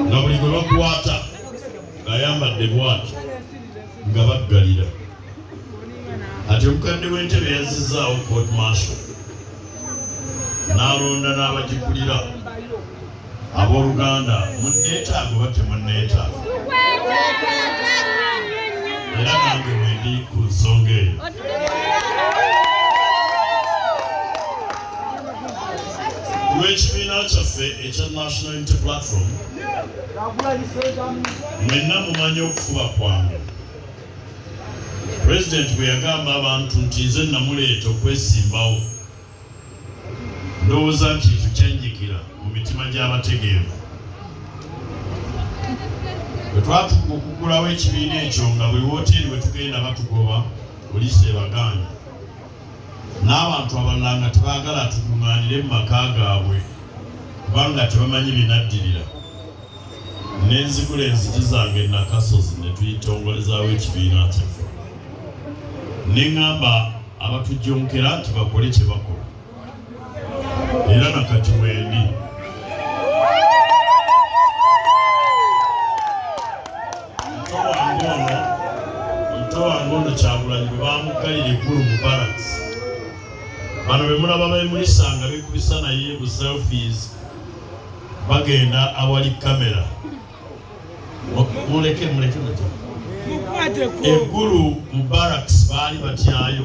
nga buli gwe bakwata ng'ayambadde bwati nga baggalira ati omukadde w'entebe yazizzaawo court marshal n'alonda n'abagikulira abooluganda munneetaago oba temunneetaago era nange wendi ku nsonga eyo lw'ekibiina kyaffe ekya national unity platform mwenna mumanyi okufuba kwange pulezidenti bwe yagamba abantu nti nze namuleeta okwesimbawo ndowooza nti tukyanyikira mu mitima gy'abategeevu bwe twatuuka okugulawo ekibiina ekyo nga buli wooteeri we tugenda batugoba poliisi ebagaana n'abantu abalala nga tebaagala tukuŋŋaanire mu maka gaabwe kubanga tebamanyi binaddirira ne nzigula enzigi zange nakasozi ne tuyitongolezaawo ekibiina kyaffe ne ŋŋamba abatujonkera nti bakole kye bakola era na kati wendi muto wange ono muto wange ono kyagulanyi bwe bamuggalira eggulu mu balance bano bemulaba bemulisa nga bekubisa naye bu selfies bagenda awali kamera muleke muleke muleke eggulu mu barracks baali batyayo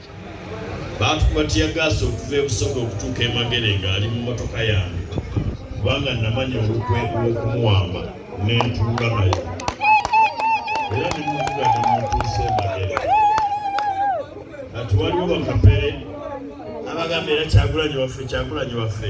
baatukuba tiyagaasi okuva e Busoga okutuuka e Magere ng'ali mu mmotoka yange kubanga namanya olukwe lw'okumuwamba ne ntuula naye era ne muvuga ne mutuusa e Magere. Kati waliwo bakapere abagamba era Kyagulanyi waffe, Kyagulanyi waffe.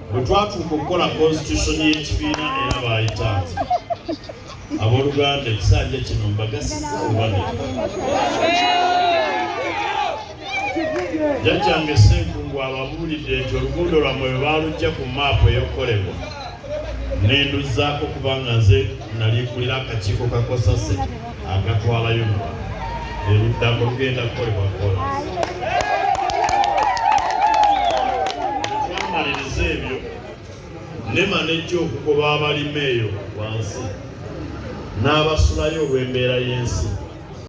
bwe twatuuka okukola konsitusoni y'ekibiina era baayita nti abooluganda ekisanja kino mbagasiza obane jjajjange senkungu ababuulidde nti oluguudo lwammwe bwe baalujja ku maapu eyokukolebwa nenduzaako kubanga nze nali kulira akakiiko kakosase agatwalayo muwa eruddako lugenda kukolebwa kola twamaliriza ebyo ne manejja okugoba abalima eyo wansi n'abasulayo olw'embeera y'ensi